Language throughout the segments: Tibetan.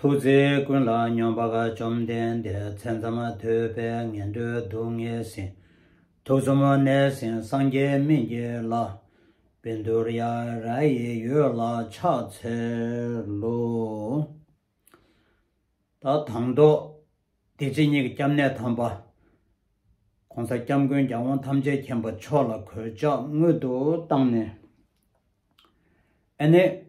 ཐུགས་རྗེ་ཀུན་ལ་སྙོམས་པ་བཅོམ་ལྡན་འདས་མཚན་ཙམ་ཐོས་པས་ངན་འགྲོའི་སྡུག་བསྔལ་ཟིན། དུག་གསུམ་གནས་ཟིན་སངས་རྒྱས་མི་འགྱེད་ལ། བི་མདོ་ར་ཡ་ཡི་ཡུལ་ལ་ཕྱག་འཚལ་ལོ། ད་དང་ཟློག། བདེ་སྐྱིད་གཉིས་ཀྱི་སྐྱབས་གནས་དམ་པ། གོང་ས་སྐྱབས་མགོན་རྒྱལ་དབང་ཐམས་ཅད་མཁྱེན་པ་མཆོག་ལ་གོས་ཕྱག་སྔོན་དུ་བཏང་ནས། ཨེ་ནས།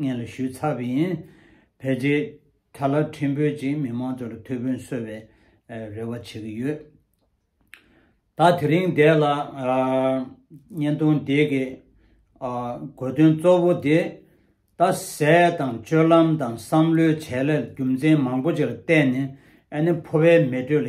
ངས་ལ་ཞུས་ཚར་བ་ཡིན། བལ་རྗེས་ད་ལ་ཁྲིམས་བོད་ཀྱི་མི་མང་ཚོར་ཐུགས་ཕན་གསོ་བའི་རེ་བ་བྱེད་ཀྱི་ཡོད། ད་དེ་རིང་འདས་ལ། བརྙན་ཐུང་དེ་གི་དགོས་དོན་གཙོ་བོ་དེ། རྡ་སའི་དང་སྤྱོད་ལམ་དང་བསམ་བློའི་བྱེད་ལས་རྒྱུ་མཚན་མང་པོ་ཅིག་ལ་བརྟེན་ནས་ཨ་ནེ་ཕོ་བའི་མེ་དྲོད་ལ་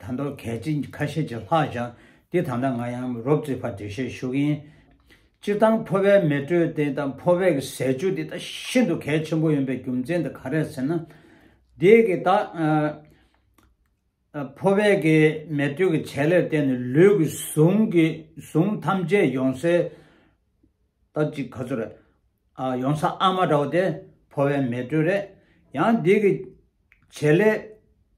དང་ཐོག་གལ་ཆེན་ཁ་ཤས་ཀྱི་ལྷག་བཞག་དེ་ད་ལྟ་ང་ཡང་རོབ་རྩིས་བར་འགྲེལ་བཤད་ཞུ་གི་ཡིན། སྤྱིར་བཏང་ཕོ་བའི་མེ་དྲོད་དེ་དང་ཕོ་བའི་གི་ཟས་སྤྱོད་དེ་དག་ཤིན་ཏུ་གལ་ཆེན་པོ་ཡིན་པའི་རྒྱུ་མཚན་དེ་ག་རེད་ཟེར་ན། དེ་གི་ད་ཕོ་བའི་གི་མེ་དྲོད་ཀྱི་ཆད་ལེར་བརྟེན་ནས་ལུས་ཀྱི་ཟུངས་ཀྱི་ཟུངས་ཐམས་ཅད་ཡོང་ས་ད་ཅིག་ག་ཚོད་རེད། ཡོང་ས་ཨ་མ་འདྲ་བོ་དེ་ཕོ་བའི་མེ་དྲོད་རེད། ཡང་དེ་གི་ཆད་ལེར་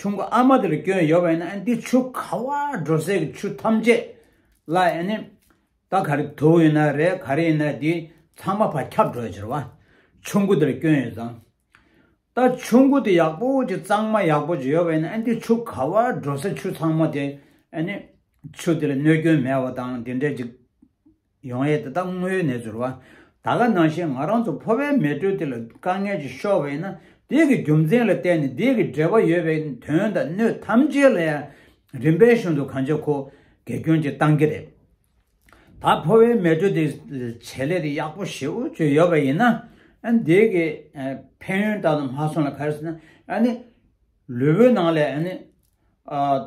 ཆུ་མགོ་ཨ་མ་དེར་བསྐྱོན་ཡོད་པས་ན་འདི་ཆུ་ཁ་བ་འགྲོ་སའི་ཆུ་ཐམས་ཅད་ལ་ད་ག་རེ་དུག་ཡིན་ན་རེད་ག་རེ་ཡིན་ན་དེ་ཚང་མ་བར་ཁྱབ་འགྲོ་ཡོད་ཟེར་བ། ཆུ་མགོ་དེར་བསྐྱོན་ཡོད་ཙང། ད་ཆུ་མགོ་དེ་ཡག་པོ་ཅིག་གཙང་མ་ཡག་པོ་ཅིག་ཡོད་པས་ན་འདི་ཆུ་ཁ་བ་འགྲོ་སའི་ཆུ་ཚང་མ་དེ་ཆུ་དེར་གནོད་སྐྱོན་མེད་པ་དང་དེ་འདྲ་ཅིག། ཡོང་ཨེ་དེ་དག་དངོས་ནས་འཛུར་བ། ད་ག་ནང་བཞིན་ང་རང་ཚོ་ཕོ་བའི་མེ་དྲོད་དེ་ལ་དཀའ་ངལ་གྱིས་ཤོར་བས་ན་དེ་གི་རྒྱུ་མཚན་ལ་བརྟེན་ནས་དེ་གི་འབྲེལ་བ་ཡོད་པའི་དོན་དང་སྣོད་ཐམས་ཅད་ལ་ཡང་རིམ་པའི་གཞུང་དུ་གང་ཅི་ཁོ་དགེ་སྐྱོན་གྱི་སྟངས་ཀྱི་རེད། ད་ཕོ་བའི་མེ་དྲོད་དེ་བྱེད་ལས་དེ་ཡག་པོ་ཞེ་འུ་ཅོ་ཡོད་པ་ཡིན་ན་དེ་གི་ཕན་ཡོན་ད་དུང་མ་སོང་ལ་ག་རེ་ཟེར་ན་ལུས་པོའི་ནང་ལ་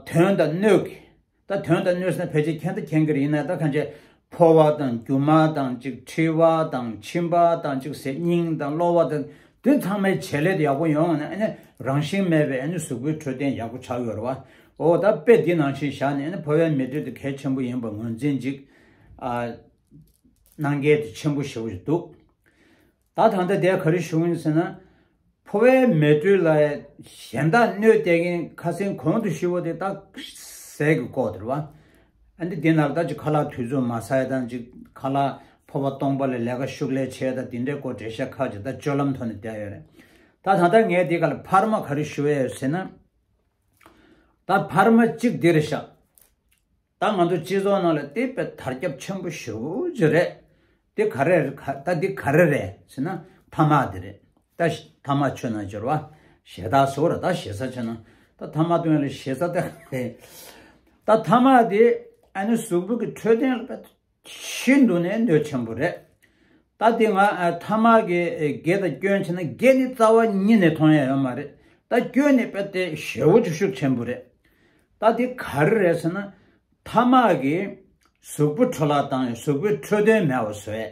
དོན་དང་སྣོད་ཀྱི། ད་དོན་དང་གནོད་སེམས་ཕལ་ཆེར་ཁྱེད་ལྟ་མཁྱེན་གྱི་རེད་ན་ད་གང་བྱེད། ཕོ་བ་དང་རྒྱུ་མ་དང་གཅིག་མཁྲིས་བ་དང་མཆིན་པ་དང་གཅིག་ཟས་སྙིང་དང་གློ་བ་དང་དེ་ཚང་མའི་བྱེད་ལས་དེ་ཡག་པོ་ཡོང་ནས་རང་བཞིན་མེད་པའི་གཟུགས་པོའི་འཕྲོད་བསྟེན་ཡག་པོ་ཆགས་ཡོད་རེད་བ། འོ་ད་དཔེ་འདི་ནང་བཞིན་བཞག་ནས་ཕོ་བའི་མི་འབྲེལ་དེ་གལ་ཆེན་པོ་ཡིན་པར་ངོས་འཛིན་ཅིག་གནང་གལ་དེ་ཆེན་པོ་ཞེ་བོ་ཞིག་འདུག། ད་ཐང་ད་དད་ག་རེ་བྱུང་ཡིན་ཟེར་ན། ཕོ་བའི་མེ་དྲོད་ལ་གཞན་དག་གནོད་བསྟད་མཁན་ཁ་སེང་གོང་དུ་ཤི་བོ་དེ་སྟག་ཟས་ཀྱི་ལྐོག་དེར་བ། ཨ་འདི་དེ་ནག་ད་ཅིག་ཁ་ལག་དུས་ཚོད་མ་ཟ་ཡ་དང་ཅིག་ཁ་ལག་ཕོ་བ་སྟོང་པ་ལས་ལས་ཀ་ཤུགས་ལས་བྱས་ད་དེ་འདྲའི་སྐོར་བྲེ་ཤ་ཁ་ཅིག་ད་སྤྱོད་ལམ་ཐོག་ནས་བསྡད་ཡོད་རེད། ད་ཐང་ད་ངས་དེ་ག་ལ་ཕར་མ་ག་རེ་ཞུ་ཡ་ཡོད་ཟེར་ན། ད་ཕར་མ་ཅིག་འདིར་བཞག། ད་ང་ཚོ་སྤྱི་ཚོགས་ནང་ལ་དེ་བས་དར་ཁྱབ་ཆེན་པོ་ཞུ་རྒྱུ་རེད། དེ་ག་རེ་རེད་ད་དེ་ག་རེ་རེད་ཟེར་ན་ཐ་མག་དེ་རེད། ད་ཐ་མག་ཆུ་ནང་འབྱོར་བ་ཞེ་ད་ཟོ་རེད་ད་ཞེ་ས་ཆུ་ནང་ད་ཐ་མག་དོན་ལ་ཞེ་ས་དེ་ག་རེད། ད་ཐ་མག་དེ་ཨ་ནི་གཟུགས་པོ་གི་འཕྲོད་བསྟེན་ལ་བལྟ། ཤིན་ཏུ་ནས་འདོད་ཆེན་པོ་རེད། ད་དེ་སྔ་ཐ་མག་གི་དགེ་དང་སྐྱོན་བྱས་ན་དགེ་ནི་རྩ་བ་ཉིད་ནས་མཐོང་ཡ་ཡོད་མ་རེད་ད་སྐྱོན་ནི་དཔེ་དེ་ཞེ་བོ་ཅིག་ཤུགས་ཆེན་པོ་རེད། ད་དེ་ག་རེ་རེད་ཟེར་ན། ཐ་མག་གིས་གཟུགས་པོ་འཕྲོ་བརླག་བཏང་ཡང་གཟུགས་པོའི་འཕྲོས་དོན་མེད་བ་བཟོས།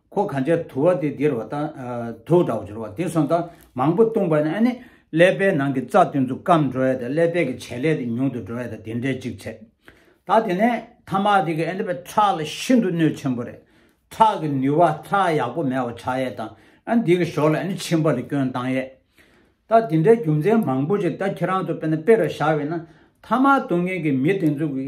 ཁོ་གང་ཅག་དུ་བ་དེ་འདིར་བ་དང། དུག་འདྲ་བ་སྦྱོར་བ་དེ་སོང་དང་མང་པོ་བཏུངས་པ་ནི་ཨ་ནི། ཀླད་པའི་ནང་གི་རྩ་དེ་ཚོ་སྐམ་འགྲོ་བས་དང་ཀླད་པའི་གི་བྱེད་ལས་དེ་ཉུང་དུ་འགྲོ་བས་དང་དེ་འདྲའི་ཅིག་ཚད། ད་དེ་ནས་ཐ་མག་དེ་གི་ཨ་ནི་བས་ཁྲག་ལ་ཤིན་ཏུ་གནོད་ཆེན་པོ་རེད། ཁྲག་གི་ནུས་བ་ཁྲག་ཡག་པོ་མེད་བ་ཁྲག་ཡས་དང་ཨ་ནི་དེ་གི་ཞོར་ལ་ཨ་ནི་མཆིན་པ་ལ་སྐྱོན་བཏང་ཡས། ད་དེ་འདྲའི་རྒྱུ་མཚན་མང་པོ་ཅིག་ད་ཁྱེད་རང་ཚོ་དཔེར་ན་དཔེ་རུ་བཞག་བས་ན་ཐ་མག་བཏུང་མཁན་གི་མི་དེ་ཚོ་གི།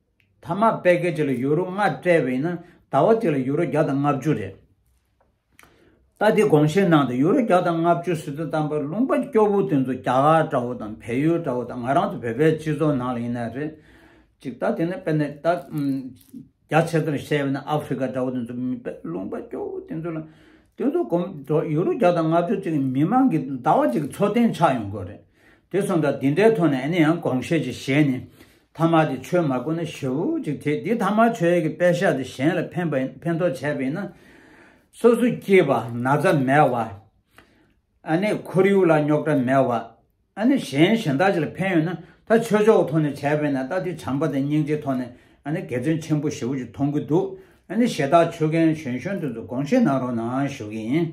ཐ་མ་དཔལ་སྐད་ཅིག་ལ་ཡུ་རོ་ལྔ་སྤྲད་པ་ཡིན་ན་ཟླ་བ་གཅིག་ལ་ཡུ་རོ་བརྒྱ་དང་ལྔ་བཅུ་རེད། ད་དེ་དགོངས་བཞེས་གནང་སྟེ་ཡུ་རོ་བརྒྱ་དང་ལྔ་བཅུ་ཟུར་དུ་བཏང་པར་ལུང་པ་སྐྱོ་བོ་དེ་ཚོ་རྒྱ་གར་དགྲ་བོ་དང་བལ་ཡུལ་དགྲ་བོ་དང་ང་རང་ཚོ་བོད་པའི་སྤྱི་ཚོགས་ནང་ལ་ཡིན་ན་རེད། ཅིག་ད་དེ་ནས་དཔེར་ན་ད་རྒྱ་ཆེ་དོར་བཤད་པ་ན་ཨ་ཧྥི་ཀ་དགྲ་བོ་དེ་ཚོ་མི་དཔལ་ལུང་པ་སྐྱོ་བོ་དེ་ཚོ་ལ་དེ་ཚོ་གོམས་ཡུ་རོ་བརྒྱ་དང་ལྔ་བཅུ་ཅིག་མི་མང་གི་ཟླ་བ་གཅིག་གི་འཚོ་རྟེན་ཆགས་ཡོང་དགོས་རེད། དེ་གསུངས་དྲག་འདི་འདྲའི་ཐོག་ནས་ཨ་ནི་ཡང་དགོངས་བཞེས་ཀྱི་བཞེས་ནས། ཐ་མ་དེ་ཆོས་མ་བསྐོར་ན་ཞེ་བོ་ཅིག་དེ་དེ་ཐ་མ་ཆོས་ཀྱི་དཔེ་བཞག་སྟེ་གཞན་ལ་ཕན་ཕན་ཐོགས་བྱས་པ་ཡིན་ན། སོ་སོ་སྐྱེས་པ་ན་ཚ་མེད་བ། ཨ་ནི་ཁོར་ཡུག་ལ་རྙོག་དྲ་མེད་བ། ཨ་ནི་གཞན་གཞན་དག་ཅིག་ལ་ཕན་ཡོད་ན་ད་ཆོས་ཕྱོགས་ཐོག་ནས་བྱས་པས་ན་ད་དེ་བྱམས་པ་དང་སྙིང་རྗེའི་ཐོག་ནས་ཨ་ནི་དགེ་བརྩོན་ཆེན་པོ་ཞེ་བོ་ཅིག་མཐོང་གི་འདུག་ཨ་ནི་ཞེ་དག་ཆོས་རྒན་གཞོན་གཞོན་དུ་དགོངས་བཞེས་གནང་རོགས་གནང་ཞུ་གི་ཡིན།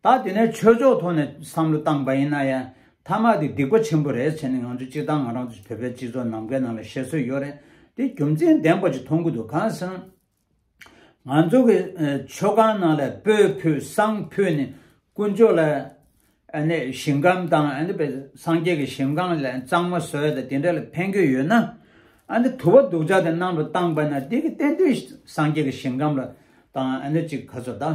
ད་དེ་ནས་ཆོས་ཕྱོགས་ཐོག་ནས་བསམ་བློ་བཏང་པ་ཡིན་ན་ཡང་ཐ་མག་དེ་སྡིག་པ་ཆེན་པོ་རེད་བྱས་ནས་ང་ཚོ་སྤྱི་དང་ང་རང་ཚོ་བོད་པའི་སྤྱི་ཚོགས་ནམ་མཁའི་ནང་ལ་བཤད་སྲོལ་ཡོད་རེད་དེ་རྒྱུ་མཚན་ལྡན་པ་ཅིག་མཐོང་གི་འདུག་གང་ཟེར་ན། ང་ཚོ་གི་ཆོས་ཁང་ནང་ལ་སྤོས་ཕུད་བསང་ཕུད་ནི་དཀོན་མཆོག་ལ་ནི་ཞིང་ཁམས་དང་སངས་རྒྱས་ཀྱི་ཞིང་ཁང་ལ་གཙང་མ་བཟོ་ཡ་དང་དེ་འདྲ་ལ་ཕན་གི་ཡོད་ན། དུ་བ་དུག་ཆ་དེ་ནང་དུ་བཏང་པ་ན་དེ་གི་གཏན་དུ་སངས་རྒྱས་ཀྱི་ཞིང་ཁམས་ལ་དང་ཅིག་ག་ཚོད་ད།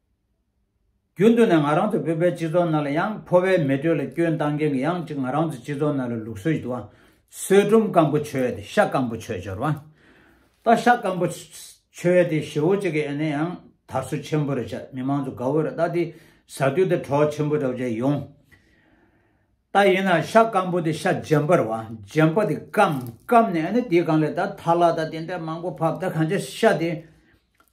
རྒྱུན་དུ་ནས་ང་རང་ཚོ་བོད་པའི་སྤྱི་ཚོགས་ནང་ལ་ཡང་ཕོ་བའི་མེ་དྲོད་ལ་སྐྱོན་བཏང་མཁན་གྱི་ཡང་གཅིག་ང་རང་ཚོ་སྤྱི་ཚོགས་ནང་ལ་ལུགས་སྲོལ་ཞིག་འདུག་བསོད་སྒྲོམ་སྐམ་པོ་བྱོས་ཏེ་ཤ་སྐམ་པོ་བྱོས་སྦྱོར་བ། ད་ཤ་སྐམ་པོ་བྱོས་ཏེ་ཞེ་བོ་གཅིག་གི་ཨེ་ནས་ཡང་དར་སོ་ཆེན་པོ་རེ་བྱ་མི་མང་ཚོ་དགའ་བོ་རེ་ད་དེ་ཟ་དུས་དེ་གྲོགས་ཆེན་པོ་འདྲ་བོ་བྱས་ཡོང། ད་ཡིན་ན་ཤ་སྐམ་པོ་དེ་ཤ་རྗེན་པར་བ་རྗེན་པོ་དེ་སྐམ་སྐམ་ནས་ཨེ་ནས་དེའི་སྒང་ལས་ད་ཐར་ལ་ད་དེ་འདྲ་མང་པོ་བབ་ད་གང་ཆ་ཤ་དེ་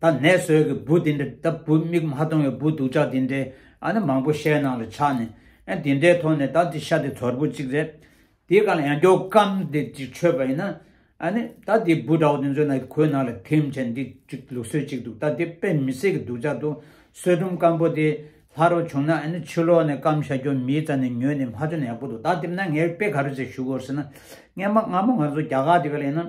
ད་ནད་བཟོད་ཀྱི་བུ་དེ་འདྲ་ད་བུ་མིག་མ་མཐོང་བའི་བུ་སྡུག་ཅག་དེ་འདྲའི་ཨ་ནི་མང་པོ་ཤའི་ནང་ལ་ཆགས་ནས་ཨ་དེ་འདྲའི་ཐོག་ནས་ད་འདི་ཤ་དེ་དོར་བུ་གཅིག་རེད་དེ་ག་ལ་ཡང་མགྱོགས་སྐམ་དེ་གཅིག་ཆོད་པ་ཡིན་ན་ཨ་ནི་ད་དེ་བུ་འདྲ་བོ་དེ་ཚོའི་ནང་གོས་ནང་ལ་ཐིམ་བྱས་འདི་གཅིག་ལུགས་སྲོལ་གཅིག་འདུག་ད་དེ་དཔེ་མི་གསལ་གྱི་སྡུག་ཅག་འདུག་བསོད་སྒྲོམ་སྐམ་པོ་དེ་ལྷ་རོ་བྱུང་ན་ཨ་ནི་ཕྱི་ལོག་ནས་སྐམ་ཤ་སྐྱོར་མིའི་རྩ་ནས་ཉོས་ནས་མ་ཆོ་ནས་ཡག་པོ་འདུག་ད་དེ་ན་ངས་དཔེ་ག་རེ་ཟེར་ཞུ་དགོས་ཟེར་ན་ངས་མ་སྔ་མོ་ང་ཚོ་རྒྱ་གར་དེ་ག་ལ་ཡིན་ན་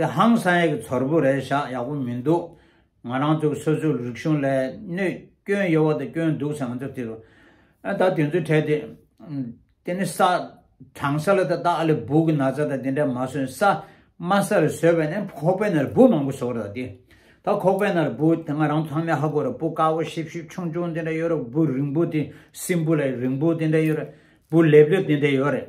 པའི་ཧང་སང་ཡིག་ཚོར་བུ་རེ་བཞག་ཡག་པོ་མི་འདུག་ང་རང་ཚོ་སོ་སོའི་རིག་གཞུང་ལས་གནོད་སྐྱོན་ཡོད་བ་དང་སྐྱོན་འདུག་ཟེར་ང་ཚོ་དེ་ད་དེ་ཚོ་བྲལ་ཏེ། དེ་ནི་ས་དྲང་ས་ལ་ད་ད་ཨ་ལེ་སྦུག་གི་ན་ཚ་དང་དེ་འདྲ་མ་ཟོས་ས་དམའ་ས་རེ་ཟོས་པས་ནི་ཁོག་པའི་ནར་སྦུག་མང་པོ་ཟོ་ར་ད་དེ་ད་ཁོག་པའི་ནར་སྦུག་དེ་ང་རང་ཚོ་ཚང་མས་ཧ་གོ་ར་སྦུག་དཀར་བོ་ཤིབ་ཤིབ་ཆུང་ཆུང་དེ་འདྲ་ཡོད་ར་སྦུག་རིང་པོ་དེ་སྲིན་འབུ་ལ་རིང་པོ་དེ་འདྲ་ཡོད་ར་སྦུག་ལེབ་ལེབ་དེ་འདྲ་ཡོད་རེད།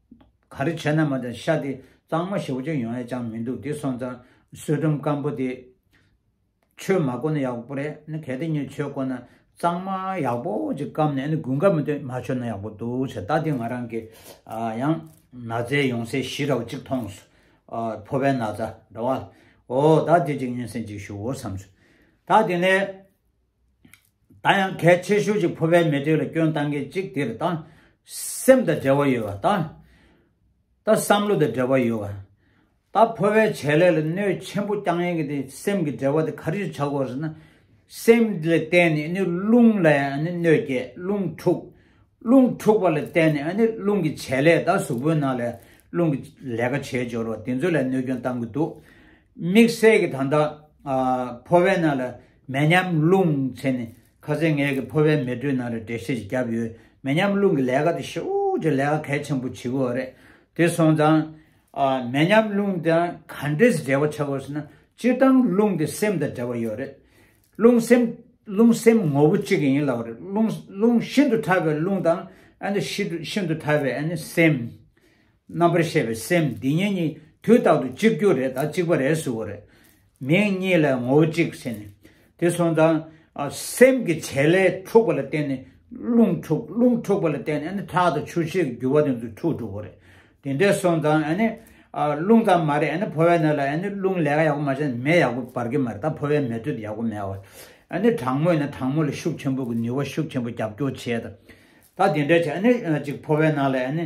ག་རེ་བྱས་ན་མ་དང་ཤ་དེ་གཙང་མ་ཞེ་བོ་ཅན་ཡོང་ཡས་ཅང་མི་འདུག་དེ་སོང་ཙང་བསོད་སྒྲོམ་སྐམ་པོ་དེ་ཆོས་མ་བསྐོར་ན་ཡག་པོ་རེད་གལ་ཏེ་ངས་ཆོས་བསྐོར་ན་གཙང་མ་ཡག་པོ་ཅིག་བསྐམ་ནས་དགུན་ཁ་མི་ཐོན་མ་ཆོད་ན་ཡག་པོ་འདུག་ཟེར་ད་དེ་ང་རང་གི་ཡང་ན་ཚའི་ཡོང་སའི་གཞི་ར་བ་ཅིག་མཐོང་སོང་ཕོ་བའི་ན་ཚ་འདྲ་བ་ལ་ཨོ་ད་དེ་ཅིག་ཉིན་སྲན་ཅིག་ཞུ་འོ་བསམ་སོང་ད་དེ་ནས་ད་ཡང་གལ་ཆེ་ཤོས་ཀྱི་ཕོ་བའི་མི་ཐོས་ལ་སྐྱོན་བཏང་མཁན་གཅིག་དེར་ད་སེམས་དང་འབྲེལ་བ་ཡོད་པ་དང། ད་བསམ་བློ་དང་འབྲེལ་བ་ཡོད་པ། ད་ཕོ་བའི་བྱས་ལས་ལ་གནོད་ཆེན་པོ་བསྐྱང་ཡན་གྱི་དེ་སེམས་ཀྱི་འབྲེལ་བ་དེ་ག་རེ་ཆགས་དགོས་ཟེར་ན། སེམས་ལ་བརྟེན་ནས་ནི་རླུང་ལ་ཡང་ནི་གནོད་སྐྱེལ་རླུང་འཁྲུག། རླུང་འཁྲུག་པ་ལ་བརྟེན་ནས་ནི་རླུང་གི་བྱས་ལས་ད་གཟུགས་པོའི་ནང་ལ་ཡང་རླུང་གི་ལས་ཀ་བྱེད་སྦྱོར་བ་དེ་ཚོ་ལ་གནོད་སྐྱོན་བཏང་གི་འདུག་དམིགས་བསལ་གྱི་ད་ཕོ་བའི་ནང་ལ་མེ་མཉམ་རླུང་ཚེ་ནི་ཁ་ཟས་ངལ་གྱི་ཕོ་བའི་མེ་དྲོད་ནང་རེ་བྲེ་ཤེད་ཀྱིས་བརྒྱབ་ཡོད་མེ་མཉམ་རླུང་གི་ལས་ཀ་དེ་ཤུགས་ཀྱི་ལས་ཀ་གལ་ཆེན་པོ་བྱེད་དགོས་བ་རེད་དེ་སོང་ཙང། མེ་མཉམ་རླུང་དང་ག་འདྲེས་འབྲེལ་བ་ཆགས་དགོས་ཟེར་ན་སྤྱིར་བཏང་རླུང་དེ་སེམས་དང་འབྲེལ་བ་ཡོད་རེད། རླུང་སེམས། རླུང་སེམས་ངོ་བོ་གཅིག་ཡིན་ལགས་རེད་རླུང། རླུང་ཤིན་ཏུ་ཕྲ་བའི་རླུང་དང། ཤིན་ཏུ་ཕྲ་བའི་སེམས། རྣམ་པར་ཤེས་པའི་སེམས་འདི་གཉིས་གཉིས་དུས་རྟག་ཏུ་གཅིག་གྱུར་རེད་ད་གཅིག་པ་རེད་གཟུ་བོ་རེད། མིང་གཉིས་ལས་ངོ་བོ་གཅིག་ཟེར་ནས། དེ་སོང་ཙང། སེམས་ཀྱི་བྱེད་ལས་འཁྲུགས་པ་ལ་བརྟེན་ནས་རླུང་འཁྲུགས་རླུང་འཁྲུགས་པ་ལ་བརྟེན་ནས་ནི་ཁྲག་དང་ཆུ་བྱའི་རྒྱུ་བ་དེ་ཚོ་འཁྲུགས་འགྲོ་བོ་རེད། དེ་འདྲས་སོང་ཙང་ཨ་ནི། རླུང་ཙམ་མ་རེད་ཨ་ནི་ཕོ་བའི་སྣོད་ལ་ཨ་ནི་རླུང་ལས་ཀ་ཡག་པོ་མ་བྱས་ན་མེ་ཡག་པོ་འབར་གི་མ་རེད་ད་ཕོ་བའི་མེ་དྲོད་ཡག་པོ་མེད་བ། ཨ་ནི་གྲང་མོ་ཡིན་ན་གྲང་མོ་ལ་ཤུགས་ཆེན་པོ་གི་ནུས་བ་ཤུགས་ཆེན་པོ་རྒྱབ་སྐྱོར་བྱས་ད། ད་དེ་འདྲས་བྱས་ཨ་ནི་གཅིག་ཕོ་བའི་ནང་ལ་ཨ་ནི།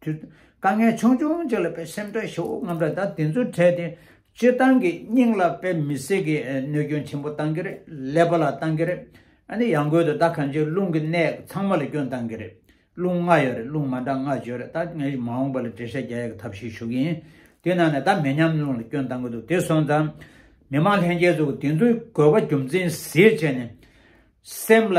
དཀའ་ངལ་ཆུང་ཆུང་ཅིག་ལ་ཕའི་སེམས་ཁྲལ་ཧྲིལ་བོ་རྔམ་དྲག་དང་དེ་ཚོའི་གྲས་དེ་སྤྱིར་བཏང་གི་སྙིང་ལ་དཔེ་མི་སྲིད་ཀི་གནོད་སྐྱོན་ཆེན་པོ་གཏང་གི་རེད་ཀླད་པ་ལ་གཏང་གི་རེད་ནི་ཡང་རྒོལ་དུ་ད་གང་ཅིའི་རླུང་གི་གནད་ཚང་མ་ལ་སྐྱོན་གཏང་གི་རེད་རླུང་ལྔ་ཡོད་རེད་རླུང་མ་འདྲ་ལྔ་བརྗོད་རེད་ད་ངས་མ་འོངས་པ་ལ་འགྲེལ་བཤད་རྒྱ་ཡག་གི་ཐབས་ཤིག་ཞུ་གི་ཡིན་དེ་ནང་ནས་ད་མེ་མཉམ་རླུང་ལ་སྐྱོན་གཏང་གི་འདུག་དེ་སོང་ཙང་མི་མང་ལྷན་རྒྱས་ཚོ་དེ་ཚོའི་དགོས་པ་རྒྱུ་མཚན་གཟེད་བྱས་ནས་སེམས་ལ།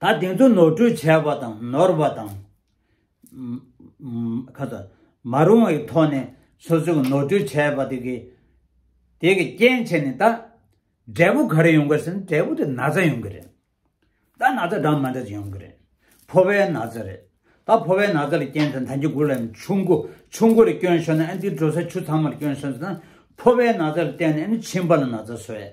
ད་དེང་དུ་ནོར་འཁྲུལ་བྱས་པ་དང་ནོར་བ་དང། མ་རུང་བའི་ཐོག་ནས་སོ་སོས་ནོར་འཁྲུལ་བྱས་པ་དེ་གི་དེ་གི་རྐྱེན་བྱས་ནས་ད་འབྲས་བུ་ག་རེ་ཡོང་གི་ཟེར་ན་འབྲས་བུ་དེ་ན་ཚ་ཡོང་གི་རེད། ད་ན་ཚ་འདྲ་མ་འདྲ་ཅིག་ཡོང་གི་རེད། ཕོ་བའི་ན་ཚ་རེད། ད་ཕོ་བའི་ན་ཚ་ལ་རྐྱེན་དང་ད་འཇུ་དགུ་ལ་ཡང་ཆུ་མགོ་ཆུ་མགོ་རེ་སྐྱོན་ཤོར་ན་ཨ་འདིའི་འགྲོ་ས་ཆུ་ཚང་མར་སྐྱོན་ཤོར་ཟེར་ན་ཕོ་བའི་ན་ཚ་ལ་བརྟེན་ནས་ཨ་ནི་མཆིན་པ་ལ་ན་ཚ་བཟོས།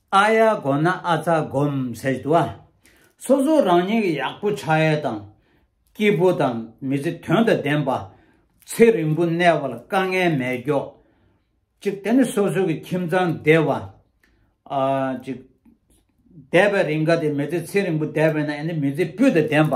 ཨ་ཡ་དགོན་ན་ཨ་ཚ་སྒོམ་ཟེར་དུ་ཨ། སོ་སོ་རང་ཉིད་ཀྱི་ཡག་པོ་ཕྱག་གཡས་དང། སྐྱིད་པོ་དང་མི་ཚེ་དོན་དང་ལྡན་པ། ཚེ་རིང་པོ་གནས་པ་ལ་དཀའ་ངལ་མེད་མགྱོགས། ཅིག་དེ་ནི་སོ་སོ་གི་ཁྱིམ་ཚང་བདེ་བ། ཅིག། བདེ་བའི་རིང་ག་དེ་མི་ཚེ་ཚེ་རིང་པོ་བདེ་བས་ན་ཡང་ནི་མི་ཚེ་སྤུས་དང་ལྡན་པ།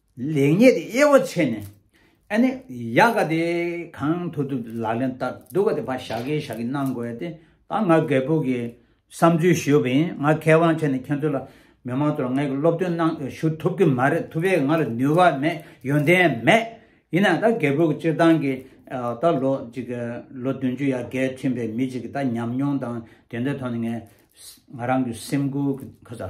ལེགས་ཉེས་དེ་དབྱེ་བ་ཕྱེ་ནས། ཨ་ནི་ཡ་ག་དེ་གང་ཐུབ་ཐུབ་ལག་ལེན་བསྟར་འདུག་ག་དེ་བ་ཞག་གིས་ཞག་གིས་གནང་དགོས་ཡ་དེ་ད་ང་རྒད་པོ་གི་བསམ་ཚུལ་ཞུས་པ་ཡིན་ང་མཁས་དབང་ཆེ་ནས་ཁྱེད་ཚོ་ལ་མི་མང་ཚོ་ལ་ངས་སློབ་སྟོན་གནང་ཞུ་ཐུབ་ཀྱི་མ་རེད་ཐུབ་པའི་ང་ལ་ནུས་བ་མེད་ཡོན་ཏན་མེད་ཡིན་ན་ད་རྒད་པོ་གི་སྤྱིར་བཏང་གི་ད་ལོ་གཅིག་ལོ་བདུན་ཅུ་ཡ་གས་ཕྱིན་པའི་མི་གཅིག་གི་ད་ཉམས་མྱོང་དང་དེ་འདྲའི་ཐོག་ནས་ངས་ང་རང་གི་སེམས་ཁུར་གི་ཁ་ཚ།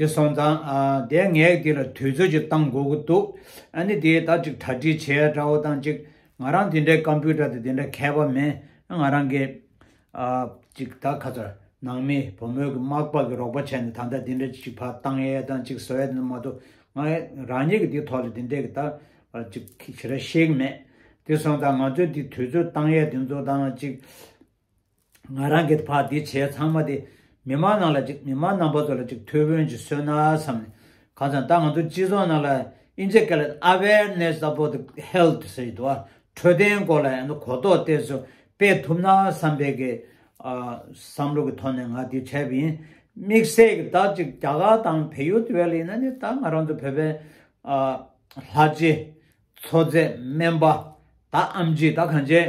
དེ་སོང་ཙང་དེ་ངས་དེ་ལ་དུས་ཚོད་ཅིག་བཏང་དགོས་ཀྱི་འདུག་ཨ་ནི་དེས་ད་ཅིག་གྲ་སྒྲིག་བྱས་དགྲ་བོ་བཏང་ཅིག་ང་རང་དེ་འདྲའི་ཀམ་པུའུ་ཏར་དེ་དེ་འདྲ་མཁས་པ་མིན་ང་རང་གིས་ཅིག་ད་ཁ་ཚར་ནང་མི་བུ་མོས་ཀྱི་མག་པ་གི་རོགས་པ་བྱས་ནས་ད་ལྟ་དེ་འདྲ་ཅིག་བར་བཏང་ཡས་བཏང་ཅིག་ཟེར་བས་མ་གཏོགས་ང་རང་ཉིད་ཀྱིས་དེའི་ཐོག་ལ་དེ་འདྲའི་ད་བར་ཅིག་ཞེ་ར་ཤེས་ཀྱི་མེད་དེ་སོང་ཙང་ང་ཚོས་དེ་དུས་ཚོད་བཏང་ཡས་དེ་ཚོ་བཏང་ན་ཅིག། ང་རང་གིས་བར་འདི་བྱས་ཚང་མ་དེ་མི་མང་ནང་ལ་ཅིག་མི་མང་ནང་པ་ཚོ་ལ་ཅིག་ཐུགས་ཕོན་ཅིག་སོན་ན་བསམ་ནས་གང་ཙམ་ད་ང་ཚོ་སྤྱི་ཚོགས་ནང་ལ Insecalate Awareness about Health ཟེར་གྱི་འདུག་ཨ་འཕྲོད་བསྟེན་སྐོར་ལ་ཡང་ན་གོ་རྟོགས་བལྟས་ཚོ་སྤེལ་ཐུབ་ན་བསམ་པའི་གི་བསམ་བློ་གི་ཐོག་ནས་ང་འདི་བྱས་པ་ཡིན། དམིགས་བསལ་གི་ད་ཅིག་རྒྱ་གར་དང་བལ་ཡུལ་དེ་བས་ལ་ཡིན་ན་ནི་ད་ང་རང་ཚོ་བོད་པའི་ལྷ་རྗེ། མཚོ་རྫས་སྨན་པ། ད་ཨམ་ཇི་ད་གང་བྱས།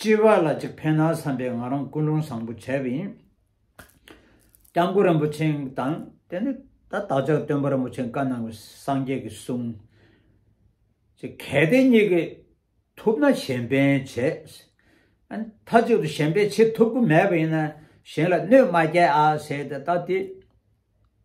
སྐྱེ་བ་ལ་ཅིག་ཕན་ན་བསམ་པའི་ང་རང་ཀུན་སློང་བཟང་པོ་བྱས་པ་ཡིན། སྐྱབས་མགོན་རིན་པོ་ཆེ་དང་དེ་ནས་ད་བདག་ཅག་སྟོན་པ་རིན་པོ་ཆེ་བཀའ་གནང་བའི་སངས་རྒྱས་ཀྱི་གསུང། ཅེས་གལ་ཏེ་གཉིས་ཀས་ཐུབ་ན་གཞན་ཕན་བྱེད། མཐའ་གཅིག་ཏུ་གཞན་ཕན་བྱེད་ཐུབ་ཀྱི་མེད་པ་ཡིན་ན་གཞན་ལ་གནོད་མ་བསྐྱལ་ཨ་ཟེར་ཏེ་ད་དེ